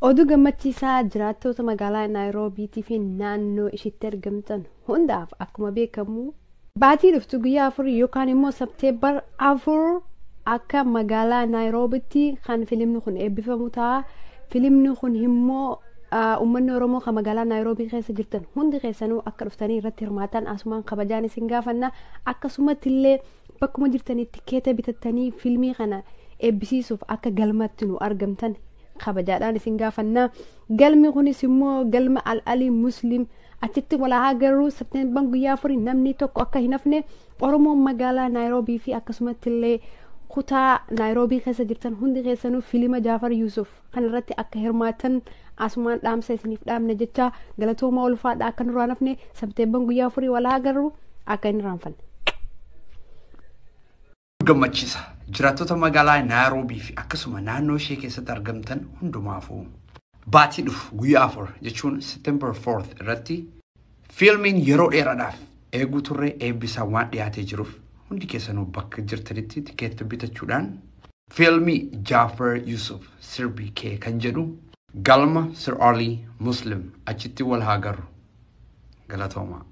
Oduu gammachiisaa jiraattoota magaalaa Naayiroobiitii fi naannoo ishiitti argamtan hundaaf akkuma beekamu baatii dhuftu guyyaa afur yookaan immoo sabteebbar afur akka magaalaa Naayiroobitti kan filimni kun eebbifamu ta'a. Filimni kun immoo uummanni Oromoo kan magaalaa Naayiroobii keessa jirtan hundi keessanuu akka dhuftanii irratti hirmaatan asumaan kabajaan isin gaafanna akkasumatti illee Bakkuma jirtanitti keeta bitattanii fiilmii kana eebbisiisuuf akka galmatti nu argamtan kabajaadhaan isin gaafannaa. Galmi kunis immoo galma Al-Alii Muslim achitti walaa agarru Septeemban guyyaa afurii namni tokko akka hin hafne Oromoon magaalaa Naayiroobii fi akkasumatti illee kutaa Naayiroobii keessa jirtan hundi keessanuu fiilma Jaafar Yuusuf kan irratti akka hirmaatan asumaan dhaamsa isiniif dhaamna jecha galatooma ulfaadha akka nurraa nafne sabteebban guyyaa afurii walaa agarru akka hin irraanfanne. gammachiisa jiraattota magaalaa naayiroobii fi akkasuma naannoo ishee keessatti argamtan hundumaafuu baatii dhufu guyyaa afur jechuun september 4 irratti Fiilmiin yeroo dheeraadhaaf eeguu turre eebbisaa waan dhiyaatee jiruuf hundi keessanuu bakka jirtanitti tikeetta bitachuudhaan fiilmii Jaafar Yusuf sirbi kee kan jedhu galma Sir Arlii Muslim achitti wal haa garru. Galatoomaa.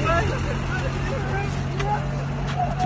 Thank you.